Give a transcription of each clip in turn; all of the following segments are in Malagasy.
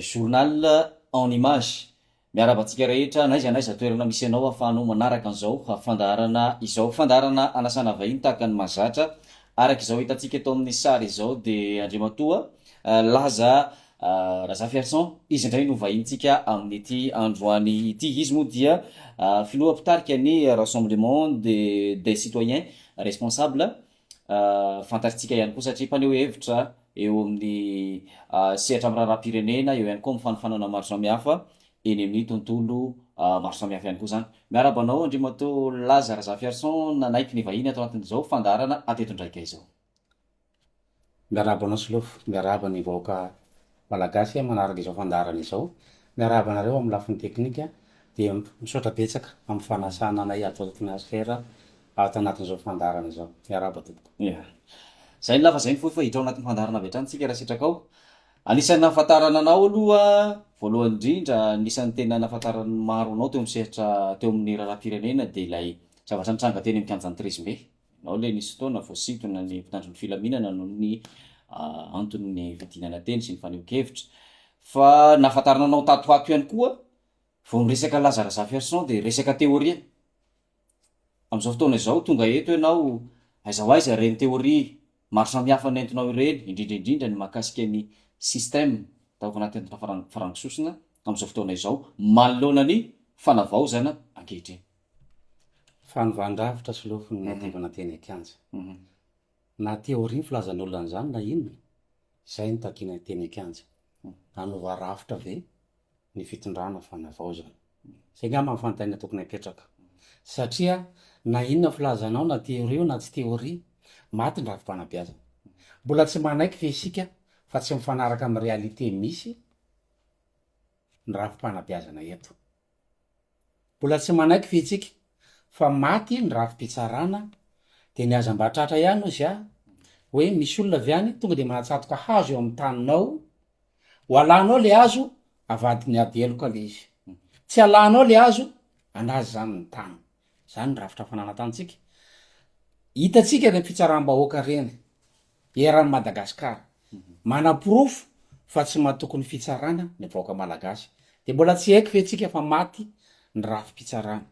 Journal en image. Miarahaba antsika rehetra n'aiza n'aiza toerana misy anao ahafahanao manaraka an'izao fandaharana izao. Fandaharana anasana vahiny tahaka ny mahazatra. Araka izao hitantsika eto amin'ny sary izao dia Andriamatoa Laza Razafiarison izy indray no vahinintsika amin'ity androany ity. Izy moa dia filoha mpitarika ny Rassemblement des citoyens responsables. Fantatritsika ihany koa satria mpaneho hevitra eo amin'ny sehatra miraharaham-pirenena, eo ihany koa amin'ny fanofanana maro samihafa eny amin'ny tontolo maro samihafa ihany koa izany. Miarahaba anao Andriamatoa Laza Razafiarison nanaiky ny vahiny ato anatin'izao fandaharana Atetondraika izao. Miarahaba anao Solofo, miarahaba ny vahoaka Malagasy manaraka izao fandaharana izao, miarahaba anareo amin'ny lafiny teknika, dia misaotra betsaka amin'ny fanasana anay ato Atmosphere ato anatin'izao fandaharana izao. Miarahaba tompoko. Ia. Zay ny lava zay ny fohy fa hiditra ao anatin'ny fandaharana avy hatrany tsika raha sitraka ao. Anisan'ny nahafantarana anao aloha voalohany indrindra, anisan'ny tena nahafantaran'ny maro anao teo amin'ny sehatra teo amin'ny raharaham-pirenena dia ilay zavatra nitranga teny amin'ny kianjan'ny Treize Mai. Nao ilay nisy fotoana voasintona ny mpitandro ny filaminana noho ny anton'ny fidinana teny sy ny fanehoan-kevitra. Fa nahafantarana anao tato ho ato ihany koa, vao miresaka Laza Razafiarison dia resaka teoria. Amin'izao fotoana izao tonga eto ianao, aiza ho aiza ireny teoria Maro samihafa no entinao ireny, indrindra indrindra ny mahakasika ny système taoko anaty entona farango sosona amin'izao fotoana izao manoloana ny fanavaozana ankehitriny. Fanovàn-drafitra sy lofo ny niadivana teny an-kianja. Na théorie ny filazan'olona an'izany na inona, izay no takiana teny an-kianja. Hanova rafitra ve? ny fitondrana fanavaozana. Zay ngamba ny fanontaniana tokony apetraka. Satria na inona filazanao na theorie io na tsy theorie, maty ny rafi-panabeazana. Mbola tsy manaiky ve isika fa tsy mifanaraka amin'ny réalité misy ny rafi-panabeazana eto? Mbola tsy manaiky ve itsika fa maty ny rafi-pitsarana dia ny aza mba tratra ihany ozy a! hoe misy olona avy any tonga dia mahatsatoka hazo eo amin'ny taninao, ho alanao le hazo avadiny ady heloka le izy, tsy alanao le hazo anazy zany ny tany, zany ny rafitra fananantantsika, hitantsika ireny fitsaram-bahoaka ireny Eran'i Madagascar. Manaporofo fa tsy matoky ny fitsarana ny vahoaka malagasy. Dia mbola tsy haiko ve tsika fa maty ny rafi-pitsarana.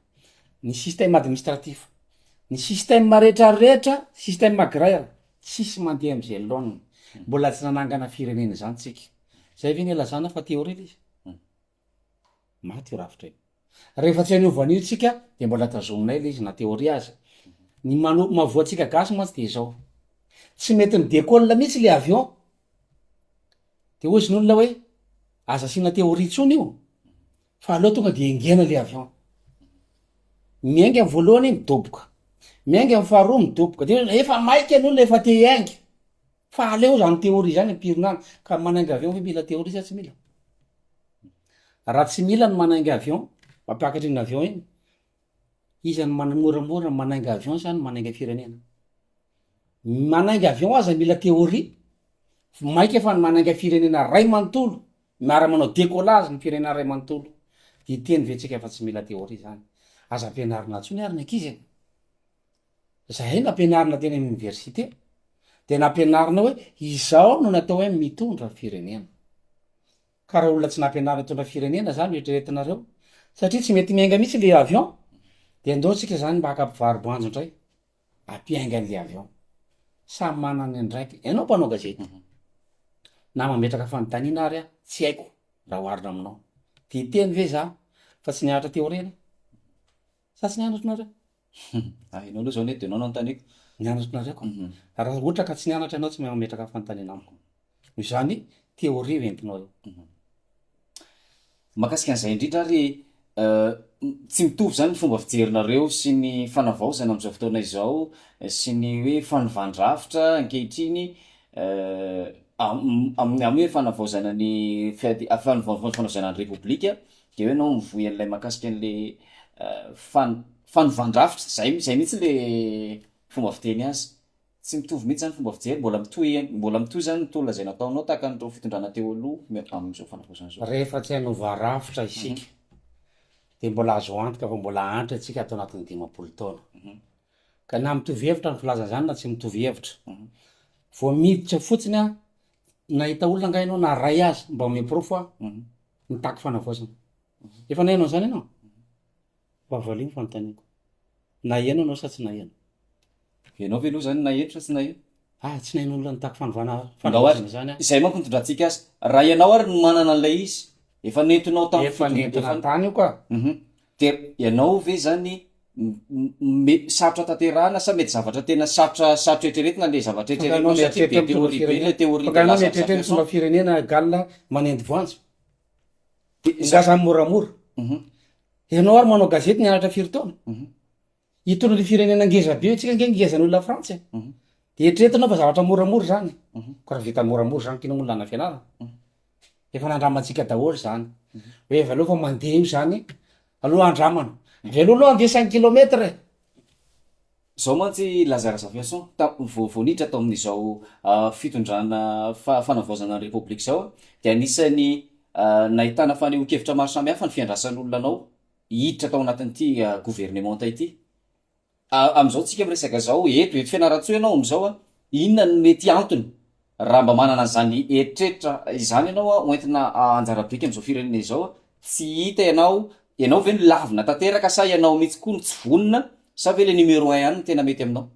Ny système administratif. Ny système rehetra rehetra, système agraire, tsisy mandeha amzay laoniny. Mbola tsy nanangana firenena izany tsika. Zay ve no ilazana fa théorie ilay izy? Maty io rafitra io. Rehefa tsy an'io vanio tsika dia mbola tazominay le izy na théorie aza. Ny mano- mahavoa antsika gasy mantsy dia izao. Tsy mety mi décolle mihitsy le avion. De hoy izy ny olona hoe aza asiana théorie intsony io fa aleo tonga de engena le avion. Miainga ny voalohany midoboka, miainga ny faharoa midoboka, de hoe efa maika ny olona efa te hiainga. Fa aleo zany théorie zany ampirina any ka manainga avion ve mila théorie sa tsy mila? Raha tsy mila ny manainga avion mampiakatra iny avion iny, iza no moramora ny manainga avion sa ny manainga firenena? Ny manainga avion aza mila théorie, mainka fa ny manainga firenena ray manontolo miara manao décollage ny firenena ray manontolo dia hiteny ve tsika fa tsy mila théorie zany? Aza ampianarina tsony ary ny ankizy e! Zahay nampianarina teny amin'ny oniversite dia nampianarina hoe izao no natao hoe mitondra firenena. Ka raha olona tsy nampianarina hitondra firenena zany no eritreretinareo satria tsy mety miainga mihitsy le avion dia ndao tsika zany mba haka mpivaro-boanjo ndray hampiainga an'le avion. Samy manana ny andraikiny. Ianao mpanao gazety na mametraka fanontaniana ary aho tsy haiko raha oharina aminao. Tia teny ve za fa tsy nianatra teo aoriana? Sa tsy nianatra nareo? Hum, ah enao aloha zao anie de enao no anontaniako. Nianatra nareo ka. Raha ohatra ka tsy nianatra enao tsy mahay mametraka fanontaniana amiko. Noho izany, théorie io entinao io. Mahakasika an'izay indrindra ary tsy mitovy izany ny fomba fijerinareo sy ny fanavaozana amin'izao fotoana izao sy ny hoe fanovan-drafitra ankehitriny amin'ny amin'ny hoe fanavaozana ny fiadi- fanovaozana ny repoblika Dia eo ianao mivoy an'ilay mahakasika an'ilay fan- fanovan-drafitra. Izay izay mihitsy ilay fomba fiteny azy. Tsy mitovy mihitsy izany fomba fijery, mbola mitohy ihany- mbola mitohy izany ny tolona izay nataonao tahaka an'ireo fitondrana teo aloha me- amin'izao fanavaozana izao. Rehefa tsy hanova rafitra isika dia mbola azo antoka fa mbola hahantra isika ato anatin'ny dimampolo taona. Ka na mitovy hevitra amin'ny filazana izany na tsy mitovy hevitra. Vao miditra fotsiny aho, nahita olona angaha ianao na iray aza mba omeo porofo aho? Mitaky fanavaozana. Efa naheno an'izany ianao? Mba valio ny fanontaniako. Naheno ianao sa tsy naheno? Ianao ve aloha izany naheno sa tsy naheno? Ah, tsy naheno olona nitaky fanovana fanavaozana izany aho. Izay manko no itondrantsika azy. Raha ianao ary no manana an'ilay izy, efa nentinao tamin'ny fitondran-dia fantatro. Efa nentina tany io ka. Dia ianao ve izany me- sarotra tanterahana sa mety zavatra tena sarotra sarotra eritreretina ilay zavatra Fa ianao eritreretinao satria mieritreritra be mitondra théorie be firenena. ilay théorie Fa de ianao Lazarus mieritreritra Jackson. mitondra firenena Galona manendy voanjo. Dia za- Ngah zany moramora. Mhm. Ianao ary manao gazety nianatra firy taona? Mhm. Hitondra ny firenena ngeza be tsika nge ngeza noho ny lafrantsa e de eritrereto anao fa zavatra moramora zany ko raha vita moramora zany kino moa lana fianarana efa nandramantsika daholo zany hoe avy aloha fa mandeha io zany aloha andramana avy aloha aloha andeha cinq kilomètre e Zao mantsy Lazare Zafiason ta- vao vao niditra tao amin'izao ah, fitondrana fa- fanavaozana ny Repoblika izao dia anisan'ny ah, nahitana fanehoan-kevitra maro samihafa ny fiandrasan'olona anao hiditra tao anatin'ity governemanta ity. Amin'izao tsika miresaka izao, eto, eto Fianarantsoa ianao amin'izao an, inona no mety antony raha mba manana an'izany eritreritra izany ianao an, ho entina anjara biriky amin'izao firenena izao an, tsy hita ianao, ianao ve no lavina tanteraka sa ianao mihitsy koa no tsy vonona sa ve ilay numéro un ihany no tena mety aminao?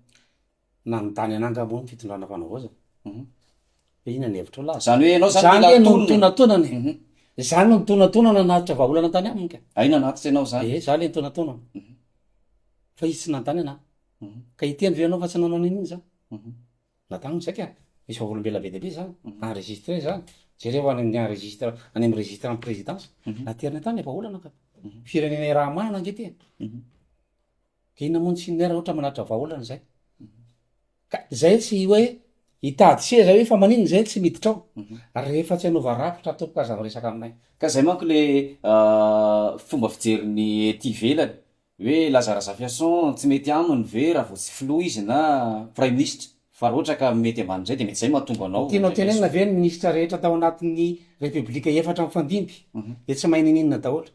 Nanontany anah angamba ny fitondrana fanavaozana hoe inona ny hevitrao laza. Zany hoe ianao zany mila tonony. Zany le no nitonantonana e. Zany no nitonantonana nanatitra vahaolana tany aminy ka. Hay nanatitra ianao zany. Ee za le nitonantonana. Fa izy tsy nanontany anah. Ka hiteny ve ianao fa tsy nanao an'iny iny za. Na taminy saika misy vavolombelona be dia be zany enregistré zany. Jereo any amin'ny enregistre any amin'ny registre an'ny présidence. Nateriny tany le vahaolana ka. Firenena iaraha-mahana ange ty e. Dia namono similaire ohatra manatitra vahaolana izay. Ka izay tsy hoe hitady seza hoe fa maninona izay tsy miditra ao. Mhm. Rehefa tsy hanova rafitra tompoko aza miresaka aminay. Ka izay manko le ah, fomba fijerin'ny ety ivelany hoe Laza Razafiason tsy mety aminy ve raha vao tsy filoha izy na praiminisitra fa raha ohatra ka mety ambanin'izay dia mety izay mahatonga anao. Tianao tenenina ve ny minisitra rehetra tao anatin'ny repoblika efatra mifandimby mhm. dia tsy mahay nininona daholo?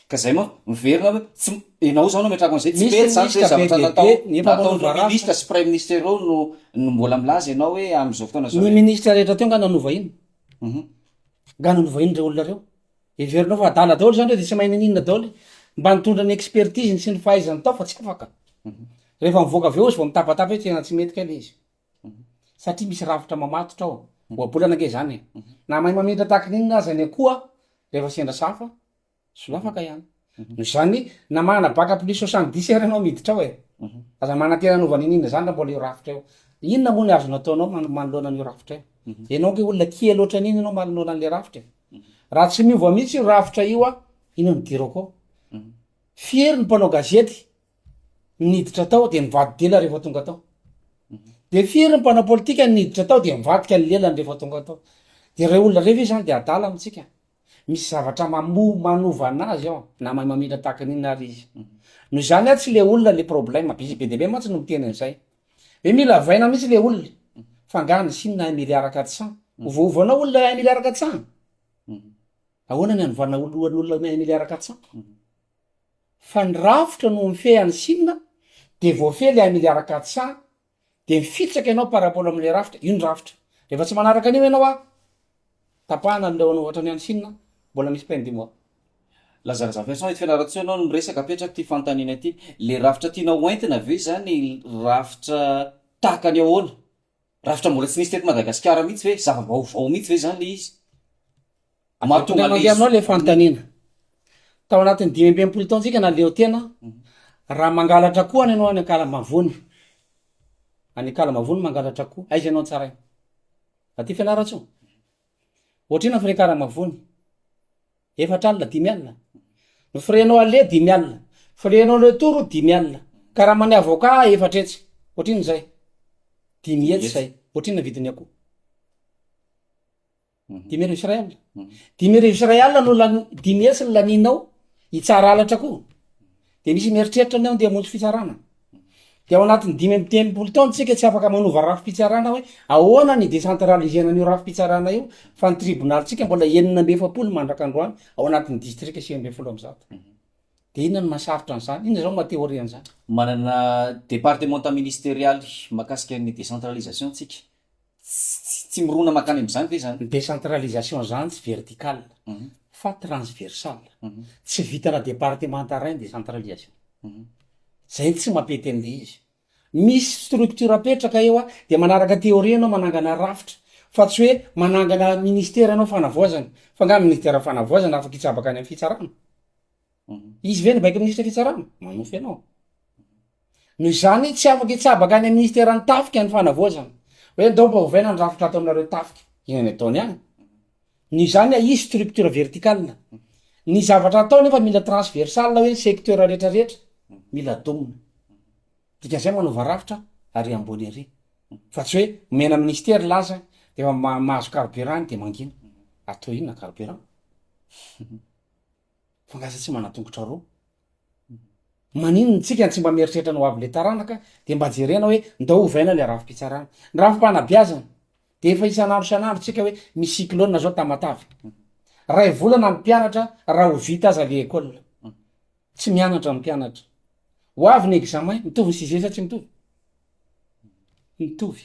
Ka zay manko, miverina hoe tsy m, enao zao no ametrahako an'zay, tsy mety zany hoe zavatra natao, nataon'reo ministra sy praiminisitra ireo no no mbola milaza enao hoe amin'izao fotoana zao hoe. Ny ministra rehetra teo nga nanovahina? Humm. Nga nanovahin'ireo olona reo? Heverinao fa adala daholo zany reo de tsy mahay nininona daholo? Mba nitondra ny expertise-ny sy ny fahaizany tao fa tsy afaka. Rehefa mivoaka avy eo izy vao mitabataba hoe tena tsy mety kay le izy. Satria misy rafitra mamatotra ao. Ohabolana nga izany e. Na mahay mamintra tahaka ny inona aza ny akoho rehefa sendra sahafa Solafaka ihany. Noho izany, na manana bac plus soixante dix ary ianao miditra ao e, aza manantena hanova an'iny iny izany raha mbola eo rafitra eo. Inona moa ny azonao atao ianao man- manoloana an'io rafitra io? Ianao ange olona kely ohatran'iny ianao manoloana an'ilay rafitra e. Raha tsy miova mihitsy io rafitra io an, inona no idirako ao? Fiery ny mpanao gazety niditra tao dia nivadi-dela rehefa tonga tao. Dia fiery ny mpanao politika niditra tao dia nivadika ny lelany rehefa tonga tao. Dia ireo olona ireo ve izany dia adala amintsika? Misy zavatra mamo manova anazy ao na mahay mamindra tahaka ny inona ary izy. Noho izany aho tsy le olona le problème, izy be dia be mantsy no miteny an'izay. Hoe mila vaina mihitsy le olona. Fa angaha ny Chine hahay miriaraka tsa? Ovaova anao olona hahay miriaraka tsa? Ahoana ny anovana lohan'ny olona mahay miriaraka tsa? Fa ny rafitra no mifehy an'i Chine dia voafehy le hahay miriaraka tsa dia mifitsaka ianao par rapport amin'ilay rafitra, io ny rafitra. Rehefa tsy manaraka an'io ianao an, tapahana ny leonao ohatran'ny any Chine an, mbola misy pain du mois. Lazana zany Vincent, eto Fianarantsoa ianao no miresaka, apetrako ity fanontaniana ity, le rafitra tianao ho entina ve zany rafitra tahaka ny ahoana? Rafitra mbola tsy nisy teto Madagasikara mihitsy ve? Zava-baovao mihitsy ve zany le izy? Mahatonga mandeha aminao ilay fanontaniana. Tao anatin'ny dimy amby enimpolo taontsika naleo tena, raha mangalatra akoho any ianao any Ankalamavony, any Ankalamavony mangalatra akoho, aiza ianao tsaraina? Aty Fianarantsoa? Ohatrina ny frais Ankalamavony? Efatra alina, dimy alina? Ny frais-nao aller dimy alina, frais-nao retour dimy alina, karaman'ny avocat efatra hetsy, ohatrina izay, dimy hetsy izay, ohatrina ny vidin'ny akoho. dimy arivo sy iray alina dimy arivo sy iray alina no lani- dimy hetsy ny lanianao hitsara halatra koa de misy mieritreritra ny ao ndeha hamonjy fitsarana de ao anatin'ny dimy amby telopolo taona tsika tsy afaka manova rafi-pitsarana hoe ahoana ny decentralisena an'io rafi-pitsarana io fa ny tribonalintsika mbola enina amby efapolo mandraka androany ao anatin'ny distrika sivy ambin'ny folo amby zato de inona no mahasarotra an'izany inona zao maha théorie an'izany manana departemanta ministerialy mahakasika ny décentralisation tsika Tsy mirona mankany amin'izany ve izany? Ny décentralisation izany tsy vertical fa transversal. Tsy vitana départemanta iray ny décentralisation. Izay no tsy mampety an'ilay izy. Misy structure apetraka eo dia manaraka théorie ianao manangana rafitra fa tsy hoe manangana ministère ianao fanavaozana. Fa angaha ny ministère fanavaozana afaka hitsabaka any amin'ny fitsarana? Izy ve no mibaiko ny ministre fitsarana? Manonofy anao. Noho izany, tsy afaka hitsabaka any amin'ny Minisiteran'ny Tafika ny Fanavaozana, hoe andao mba ovaina ny rafitra ataonareo tafika. Inona ny ataony any? Noho izany, ahisy structure verticale. Ny zavatra atao nefa mila transversale hoe ny secteur rehetrarehetra mila domina. Dikan'izay manova rafitra ary ambony ery. Fa tsy hoe omena Minisitera ilay azy dia efa ma- mahazo carburant any dia mangina. Atao inona carburant? Fa angaha aza tsy manan-tongotra roa? Maninona tsika tsy mba mieritreritra ny ho avin'le taranaka de mba jerena hoe ndao ovaina le rafi-pitsarana. Ny rafi-panabeazana de efa isan'andro isan'andro tsika hoe misy cyclone zao Tamatave. Ray volana ny mpianatra raha ho vita aza le école. Tsy mianatra ny mpianatra. Ho avy ny examen, mitovy ny sixième sa tsy mitovy? Mitovy.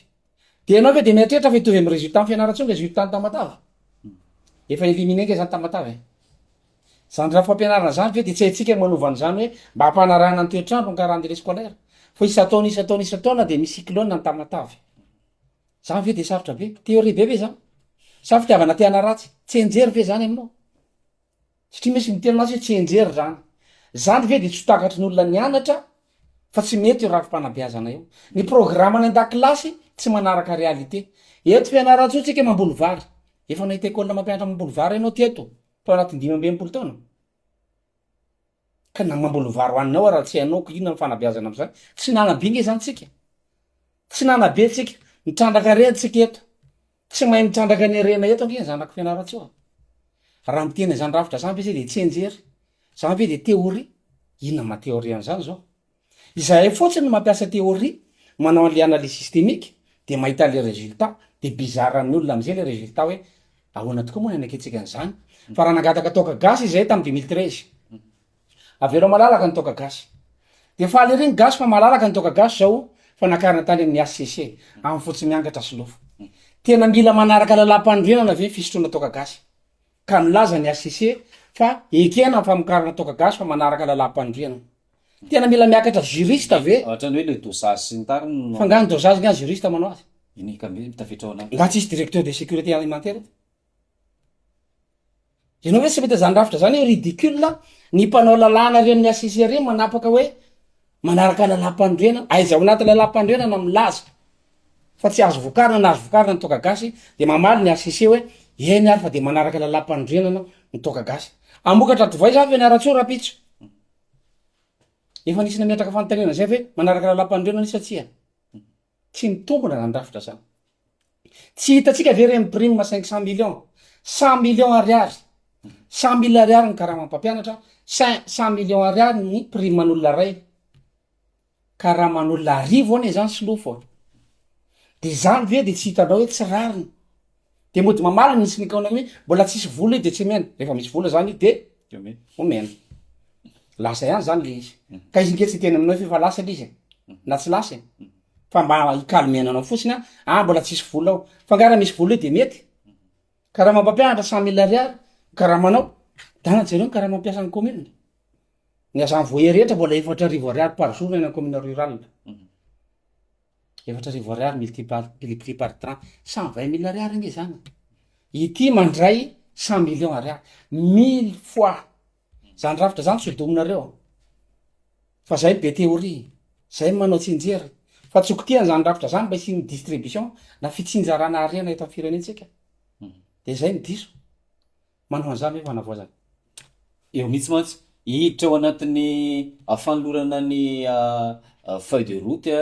Dia ianao ve dia mieritreritra fa hitovy amin'ny résultat ny fianaratsy ny résultat ny Tamatave? Efa éliminé nga izany Tamatave e! Izany rafitra fampianarana izany ve dia tsy haintsika ny manova an'izany hoe mba hampanarahana ny toetr'andro ny calendrier scolaire? Fa isan-taona isan-taona isan-taona dia misy cyclone ny Tamatave. Izany ve dia sarotra be? Théorie be ve izany? Sa fitiavana te-hanaratsy? Tsenjery ve izany aminao? Satria misy miteny mantsy hoe tsy enjery zany. Zany ve dia tsy ho takatry ny olona nianatra fa tsy mety io rafi-panabeazana io. Ny programa any an-dakilasy tsy manaraka réalité. Eto Fianarantsoa tsika mamboly vary. Efa nahita école mampianatra mamboly vary ianao teto tao anatin'ny dimy amby enimpolo taona? Ka na mamboly vary ho an'ny ao ara tsy hainao ko inona ny fanabeazana amzany. Tsy nanabe nge zany tsika. Tsy nanabe tsika. Nitrandraka reha tsika eto. Tsy mahay mitrandraka ny harena eto ange ny zanako Fianarantsoa a! Raha miteny an'izany rafitra izany ve zay dia tsy enjery? Izany ve dia théorie? Inona ny maha théorie an'izany izao? Izahay fotsiny no mampiasa théorie, manao an'ilay analyse systémique dia mahita an'ilay résultat, dia bizarre amin'ny olona amin'izay ilay résultat hoe ahoana tokoa moa ny haneketsika an'izany? Fa raha nangataka toaka gasy izahay tamin'ny deux mille treize, Avelao malalaka ny toaka gasy. Dia faly ery ny gasy fa malalaka ny toaka gasy zao fa nakarina tany amin'ny HCC, amin'ny fotsy miangatra sy lofo. Tena mila manaraka lalam-panorenana ve fisotroana toaka gasy? Ka milaza ny HCC fa ekena ny famokarana toaka gasy fa manaraka lalam-panorenana. Tena mila miakatra juriste ve? Ohatrany hoe le dosage sy ny tariny no. Fa nga ny dosage nga juriste manao azy? Eny ka mety tafiditra ao anaty. Nga tsisy directeur de sécurité alimentaire eto? Ianao ve tsy mahita zany rafitra zany hoe ridicule a, ny mpanao lalàna ary amin'ny HCC ary manapaka hoe manaraka lalam-panorenana, aiza ao anaty lalam-panorenana milaza fa tsy azo vokarina na azo vokarina ny toaka gasy de mamaly ny HCC hoe eny ary fa de manaraka lalam-panorenana ny toaka gasy, hamokatra divay zany Fianarantsoa rahampitso, efa nisy nametraka fanontaniana zay ve manaraka lalam-panorenana izy sa tsia? Tsy mitombona zany rafitra zany. Tsy hitantsika ve reny prime cinq cent million, cent million ariary, cent mille ariary ny karamam pampianatra, cent cent million ariary ny prime an'olona ray, karaman'olona arivo anie zany sy lofo a. De zany ve de tsy hitanao hoe tsy rariny. de mody mamaly misy nikaona hoe mbola tsisy vola io de tsy omena rehefa misy vola zany io de omena lasa ihany zany le izy ka izy nge tsy hiteny aminao f'efa lasa le izy e na tsy lasa e fa mba hi calmer anao fotsiny an ah mbola tsisy vola ao fa nga raha misy vola eo de mety karama mpampianatra cent mille ariary ny karamanao dahana jereo ny karama mpiasan'ny commune ny agent voyer rehetra mbola efatra arivo ariary par jour ny any amin'ny commune rurale efatra arivo ariary multiplie par trente cent vingt mille ariary ange zany ity mandray cent millions ariary mille fois zany rafitra zany tsy hodominareo fa zay be théorie zay manao tsinjery fa tsy hokitihan zany rafitra zany mba hisian'ny distribution na fitsinjarana harena eto amin'ny firenentsika de zay ny diso Manao an'izany hoe fanavaozana. Eo mihitsy mantsy, hiditra ao anatin'ny fanolorana ny feuille de route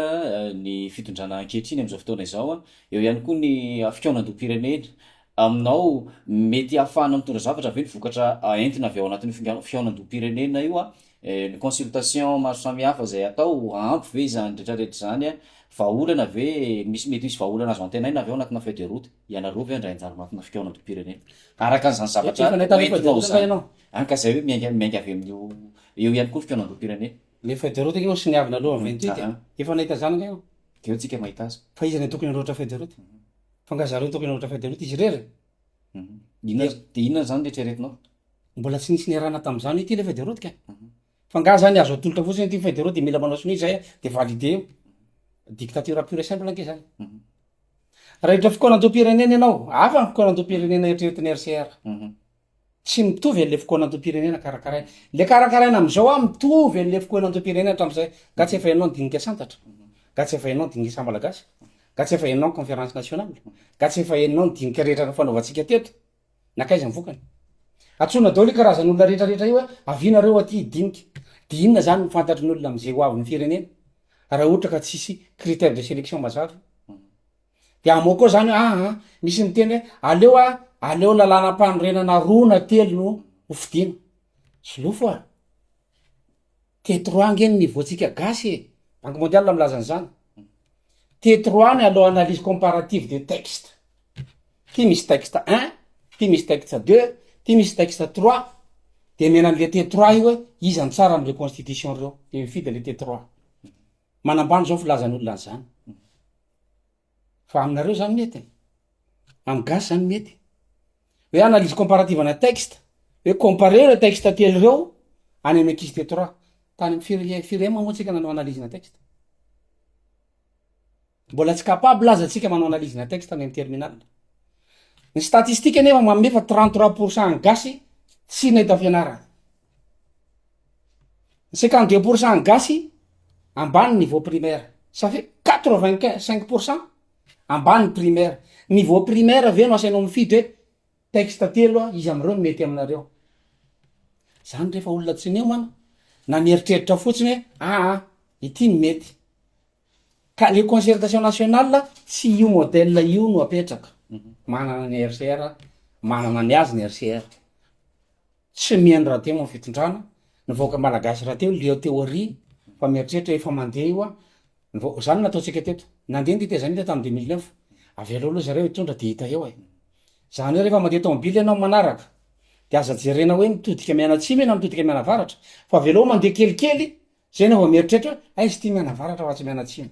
ny fitondrana ankehitriny amin'izao fotoana izao. Eo ihany koa ny fikaonandoham-pirenena. Aminao, mety hahafahana mitondra zavatra ve ny vokatra entina avy ao anatin'io finga- fikaonandoham-pirenena io? Ny consultation maro samihafa izay atao, ampy ve izany rehetrarehetra izany? Vahaolana ve, misy mety hisy vahaolana azo antenaina ve ao anatinà feuille de route? Ianareo ve handray anjara anatina fikaonandoham-pirenena? Araka an'izany zavatra Efa nahita an'io hoentinao fadiranovana izany, ianao? any ka izay hoe miainga miainga avy amin'io eo ihany koa ny fikaonandoham-pirenena. Ilay feuille de route ange hono sy ny avy naloa ny vingt huit e! Ahaa. Efa nahita izany ange ianao? Dia eo tsika mahita azy. Fa iza no tokony hanoratra feuille de route? Fa angaha zareo no tokony hanoratra feuille de route izy irery? Inona, dia inona izany no eritreretinao? Mbola tsy nisy niarahana tamin'izany ity ilay feuille de route ka e! Fa nga zany azo atolotra fotsiny ity federaux de mila manao sonia zay de valider io? Dictature pure et simple ange zany. Raha hiditra fikaonandoham-pirenena ianao, hafa ny fikaonandoham-pirenena eritreretin'ny RCR. Tsy mitovy an'le fikaonandoham-pirenena karakaraina. Le karakaraina am'zao an, mitovy an'le fikaonandoham-pirenena hatram'zay. Nga tsy efa hainao ny dinika santatra? Nga tsy efa hainao ny dinika saha-malagasy? Nga tsy efa hainao ny conférence nationale? Nga tsy efa hainao ny dinika rehetra nifanaovantsika teto? Nankaiza ny vokany? Antsoina daholo io karazan'olona rehetra rehetra io hoe avia nareo aty hidinika. Dia inona zany no fantatry ny olona am'zay ho avin'ny firenena? Raha ohatra ka tsisy critère de sélection mazava. Dia amoa koa zany hoe aa misy miteny hoe aleo a aleo lalanam-panorenana roa na telo no ho fidiana. Solofo a! Teto roa ange ny niveau tsika gasy e! Banque mondiale milaza an'izany. Teto roa any allo analyse comparative de texte. Ty misy texte un, ty misy texte deux, ty misy texte trois. De miaina an'le teto roa io hoe iza no tsara am'reo constitution reo. De mifidy an'le teto roa. Manambany zao filazan'olona an'izany. Fa aminareo zany mety e. Am gasy zany mety. Hoe analyse comparative ana texte, hoe comparer ireo texte telo ireo any amin'ny ankizy teto raha. Tany am fire- firema moa tsika nanao analyse na texte. Mbola tsy capable aza tsika manao analyse na texte any am terminal. Ny statistique anefa manome fa trente trois pourcent ny gasy tsy nahita fianarana. Ny cinquante deux pour cent gasy ambany niveau primaire, ça fait quatre vingt quin- cinq pour cent ambany primaire, niveau primaire ve no asainao mifidy hoe texte telo an iza amreo no mety aminareo, zany refa olona tsy niomana na mieritreritra fotsiny hoe aa ity no mety, ka le concertation nationale tsy io modèle io no apetraka, manana ny RCR, manana ny azy ny RCR. Tsy mihaino raha teo am fitondrana ny vahoaka malagasy raha teo leo teo ary fa mieritreritra efa mandeha io an ny vahoaka zany no nataontsika teto nandeha ny tetezamita tam deux mille neuf avelao aloha zareo hitondra de hita eo e zany hoe refa mandeha tomobily enao manaraka de aza jerena hoe mitodika mianatsimo ianao mitodika mianavaratra fa avelao mandeha kelikely zay enao vao mieritreritra hoe aiza ty mianavaratra fa tsy mianatsimo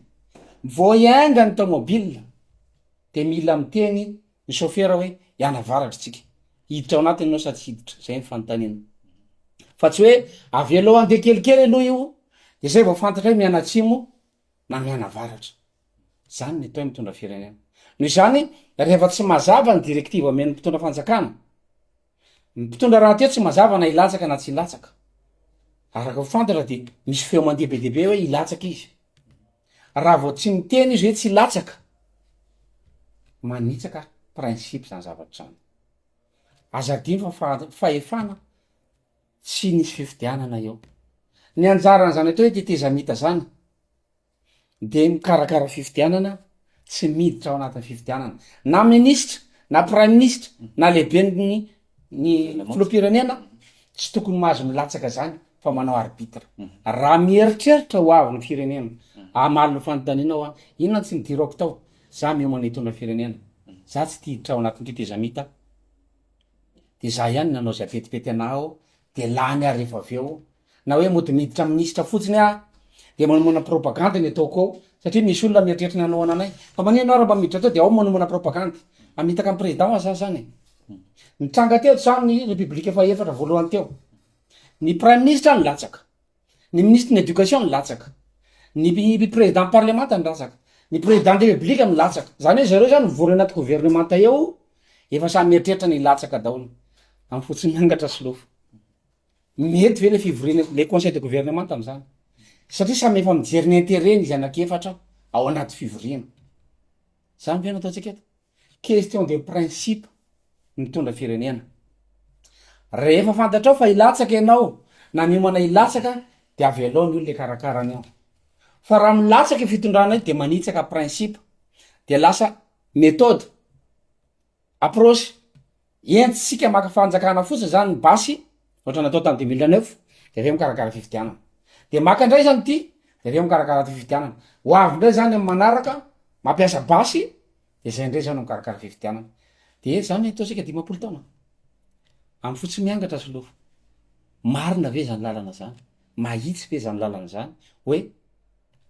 vao hiainga ny tomobile de mila miteny Ny chauffeur hoe iany avaratra tsika. Hiditra ao anatiny enao sa tsy hiditra? Zay ny fanontaniana. Fa tsy hoe avelao handeha kelikely aloha io de zay vao fantatra hoe mianatsimo na mianavaratra. Zany ny atao hoe mitondra firenena. Noho izany, rehefa tsy mazava ny directive omen'ny mpitondra fanjakana, Ny mpitondra rahateo tsy mazava na hilatsaka na tsy hilatsaka. Araka fantatra dia misy feo mandeha be dia be hoe hilatsaka izy. Raha vao tsy miteny izy hoe tsy hilatsaka, manitsaka principe izany zavatra izany. Aza adino fa fa- fahefana tsy nisy fifidianana eo. Ny anjaran'izany atao hoe tetezamita izany dia mikarakara fifidianana tsy miditra ao anatin'ny fifidianana na minisitra na praiminisitra na lehiben'ny ny filoham-pirenena tsy tokony mahazo milatsaka zany fa manao arbitre raha mieritreritra ho avy ny firenena amaly ny fanontaniana hoa inona tsy nidirako tao za miomana hitondra firenena za tsy tia hiditra ao anatin'ny tetezamita dia za ihany nanao zay petipety anah ao dia lany ary rehefa avy eo na hoe mody miditra minisitra fotsiny aho dia manomana propagande ny ataoko ao satria misy olona mieritreritra ny hanohana anay fa maninona ianao raha mba miditra tao dia ao manomana propagande hamitaka an'i président ho azy za zany e nitranga teo zany ny république fahefatra voalohany teo ny prime ministre nilatsaka ny ministre ny éducation nilatsaka ny pi- président parlemanta nilatsaka ny président de république milatsaka zany hoe zareo zany mivory anaty gouvernemanta eo efa samy mieritreritra ny hilatsaka daholo amin'ny fotsin'angatra sy lofo Mety ve le fivoriana le conseil de gouvernement amzany satria samy efa mijery ny intereny izy anaky efatra ao anaty fivoriana zany ve no ataontsika eto question de principe mitondra firenena rehefa fantatrao fa hilatsaka ianao na miomana hilatsaka de avelao ny olona ikarakara ny ao fa raha milatsaka fitondrana io de manitsaka principe de lasa methode Approche, entintsika maka fanjakana fotsiny zany ny basy, ohatra natao tany deux mille neuf, de avy eo mikarakara fifidianana. De maka ndray zany ty, de avy eo mikarakara ty fifidianana. Ho avy ndray zany amy manaraka, mampiasa basy, de zay ndray zany mikarakara fifidianana. De zany ataontsika dimampolo taona, amy fo tsy miangatra solofo. Marina ve zany lalana zany? Mahitsy ve zany lalana zany? Hoe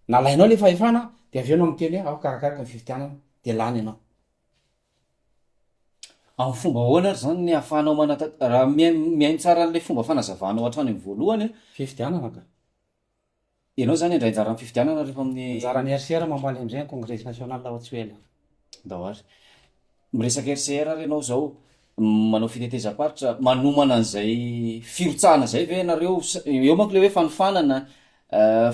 nalainao le fahefana, de avy eo anao miteny hoe ao karakaraiko ny fifidianana, de lany ianao. Amin'ny fomba ahoana ary izany ny ahafahanao manata-, raha mihaino tsara an'ilay fomba fanazavanao hatrany amin'ny voalohany an. Fifidianana ka. Ianao izany handray anjara amin'ny fifidianana rehefa amin'ny. Anjaran'ny RCR mamaly indray ny Congrès National aho tsy ho ela. Andao ary. Miresaka RCR ary ianao izao. Manao fitetezam-paritra, manomana an'izay firotsahana izay ve ianareo? Eo manko ilay hoe fanofanana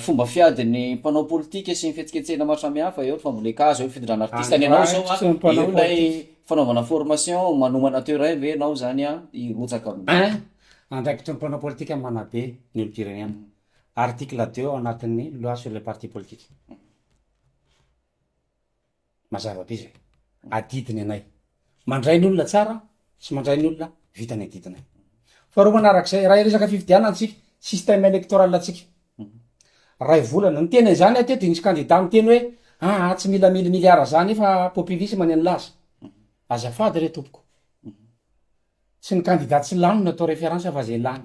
fomba fiadin'ny mpanao politika sy ny fihetsiketsehina maro samihafa, eo ny fambolen-kazo, eo ny fitondrana artista. Ny anao izao an, eo ilay fanaovana formation, manomana terrain ve ianao izany an, hirotsaka amin'ny. Un, andraikitry ny mpanao politika manabe ny olom-pirenena. Article deux ao anatin'ny loi sur les partis politiques. Mazava be zay. Adidy ny anay. Mandray ny olona tsara sy mandray ny olona vita ny adidinay. Faharoa manarak'izay, raha resaka fifidianana antsika, système électoral antsika. Ray volana. Ny teny an'izany aho teo dia nisy kandida niteny hoe aa tsy mila mille milliards zany fa populisme ny an'laza. Azafady re tompoko. Tsy ny kandida tsy lany no atao reference fa izay lany.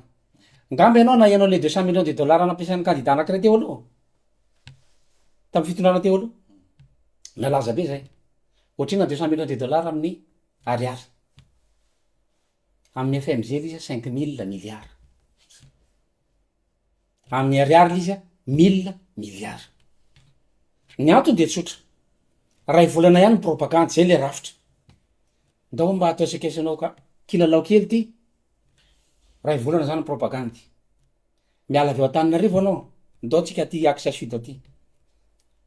Angamba ianao nahaino an'ilay deux cent millions de dollars nampiasain'ny kandida anankiray teo aloha, tamin'ny fitondrana teo aloha. Nalaza be izay. Ohatrina deux cent millions de dollars amin'ny Ariary. Amin'ny FMG ilay izy cinq mille milliards. amin'ny ariary ilay izy a, mille milliards. Ny antony dia tsotra, iray volana ihany ny propagande, izay ilay rafitra. Ndao mba atao esakesanao ka, kilalao kely ity, iray volana izany ny propagande. Miala avy ao Antananarivo ianao, ndao tsika aty axe sud aty.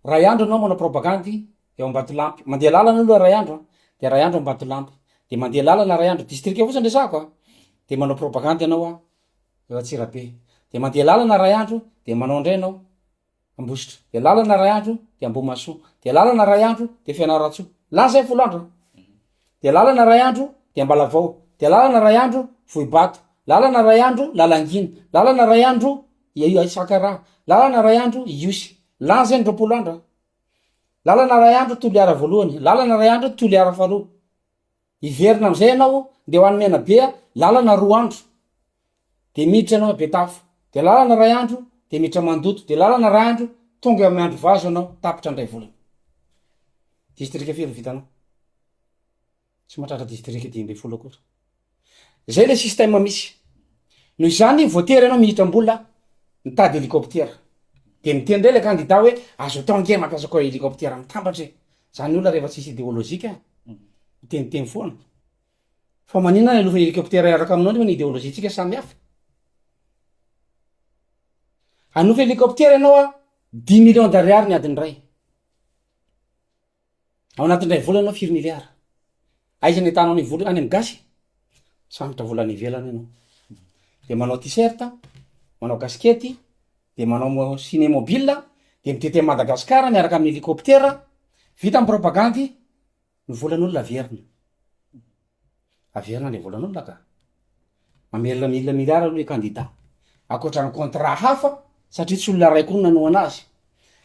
Iray andro ianao manao propagande eo Ambatolampy, mandeha lalana aloha iray andro a, dia iray andro Ambatolampy, dia mandeha lalana iray andro, distrika fotsiny resahako a, dia manao propagande ianao a, eo Antsirabe. Dia mandeha lalana iray andro dia manao indray ianao Ambositra. Dia lalana iray andro dia Ambohimahasoa. Dia lalana iray andro dia Fianarantsoa. Lany izay ny folo andro an. Dia lalana iray andro dia Ambalavao. Dia lalana iray andro Vohibato. Lalana iray andro Lalangina. Lalana iray andro Isakaraha. Lalana iray andro Ihosy. Lany izay ny roapolo andro an. Lalana iray andro Toliara voalohany. Lalana iray andro Toliara faharoa. Hiverina amin'izay ianao dia ho any Menabe, lalana roa andro, dia miditra ianao Betafo, dia lalana iray andro, dia miditra Mandoto, dia lalana iray andro, tonga eo amin'ny andro vazo ianao, tapitra ny iray volana. Distrika firy ny vitanao? Tsy mahatratra distrika dimy ambin'ny folo akory. Izay ilay système misy. Noho izany voatery ianao mihitra am-bola mitady hélicoptère. Dia miteny indray ilay kandida hoe azo atao ange mampiasa koa hélicoptère mitambatra e. Zany olona rehefa tsisy ideolojika miteniteny foana. Fa manina ny alofa helikoptera hiaraka aminao nefa ny ideolojiantsika samy hafa. Hanofa helikoptera ianao a, dix millions d'ariary ny adiny iray. Ao anatin'ny iray volana ianao firy miliara. Aiza ny tananao vola any amin'ny gasy? Sambotra vola any ivelany ianao. Dia manao t-shirt, manao kasikety, dia manao mo- cinémobile, dia mitety an'i Madagasikara miaraka amin'ny hélicoptère, vita ny propagandy, ny volan'olona averina. Averina le volan'olona ka. Mamerina mille milliards aloha le candidat, ankoatra ny contrat hafa satria tsy olona ray koa no nanohana azy,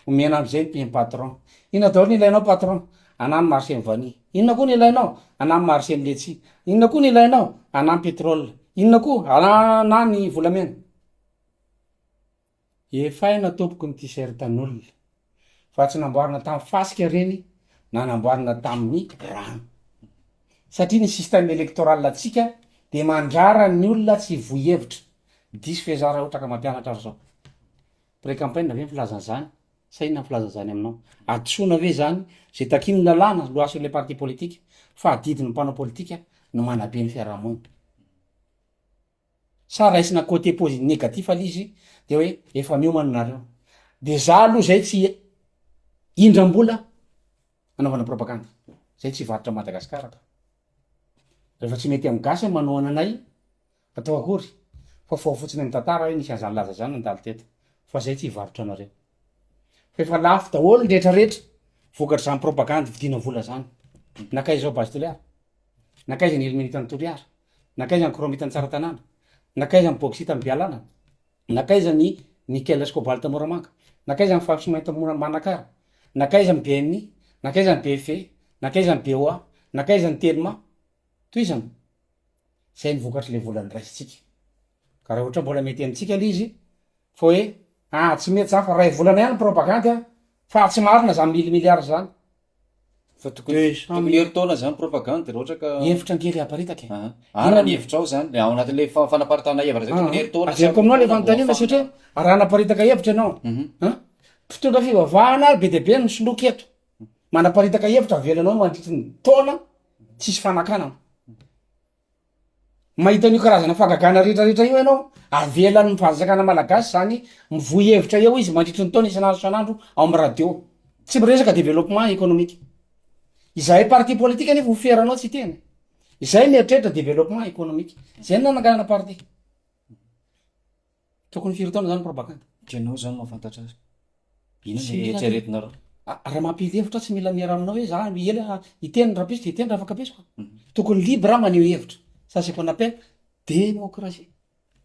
omena amzay ny prime patron, inona daholo ny ilainao patron? anah ny marché ny vanille, inona koa ny ilainao? anah ny marché ny letchis, inona koa ny ilainao? anah ny petrole, inona koa? anah ny volamena. Efaina tompoko ny tisertan'olona fa tsy namboarina tamin'ny fasika reny na namboarina tamin'ny rano satria ny système électoral antsika de mandrara ny olona tsy hivoy hevitra diso ve za ra ohatra ka mampianatra ary zao pré campaign ve ny filazana izany sa inona ny filazana izany aminao hadisoana ve izany ze takian'ny lalàna loi sur les partis politiques fa adidin'ny mpanao politika no manabe ny fiarahamonina. sa raisina côté posi négatif aloha izy de hoe efa miomana nareo de za aloha zay tsy indram-bola anaovana propagande zay tsy varotra Madagascar ka rehefa tsy mety amin'ny gasy manao ananay atao akory fa fao fotsiny amin'ny tantara hoe nisy an'izany laza zany nandalo teto fa zay tsy varotra anareo fa efa lafo daholo ny retraretra vokatr'izany propagande vidina vola zany nakaiza ao base toliara Nankaiza ny ilmenita an'i Toliara? Nankaiza ny kromita an'i Tsaratanàna? Nankaiza ny bôksita an'i Bealana? Nankaiza ny nikela sy kôbalta an'i Moramanga? Nankaiza ny fafy sy mainty an'i Manakara? Nankaiza ny BNI? Nankaiza ny BFE? Nankaiza ny BOA? Nankaiza ny Telma? Tohizana. Zay ny vokatr'ilay vola noraisintsika. Ka raha ohatra mbola mety amintsika ilay izy fa hoe ah tsy mety zany fa ray volana ihany ny propagandy an, fa tsy marina zany mille milliards zany. Fa tokony tokony herintaona izany propagande raha ohatra ka. Hevitra ngely aparitaka e. Aha, araka ny hevitrao izany, le ao anatin'le fa- fanaparitahana hevitra zay tokony herintaona sy Averiko aminao le herintaona vao fanontaniana afahana. satria raha hanaparitaka hevitra ianao an, mpitondra fivavahana ary be dia be no soloiko eto, manaparitaka hevitra avelanao mandritry ny taona tsisy fanakanana. Mahita an'io karazana fagagana rehetra rehetra io ianao, avelan'ny fanjakana malagasy zany mivoy hevitra eo izy mandritry ny taona isan'andro isan'andro ao amin'ny radio, tsy miresaka développement économique, izahay parti politique anefa ho fier anao tsy hiteny, izahay mieritreritra développement économique, zay no nananganana parti. Tokony firy taona zany propagande? Ianao zany mahafantatra azy. Inona no eritreretinareo? Raha mampily hevitra tsy mila miera aminao hoe za ela hiteny ny rahampitso de hiteny raha fankabetsiko. Mhm. Tokony libre maneho hevitra. Ça c'est qu'on appelle démocratie.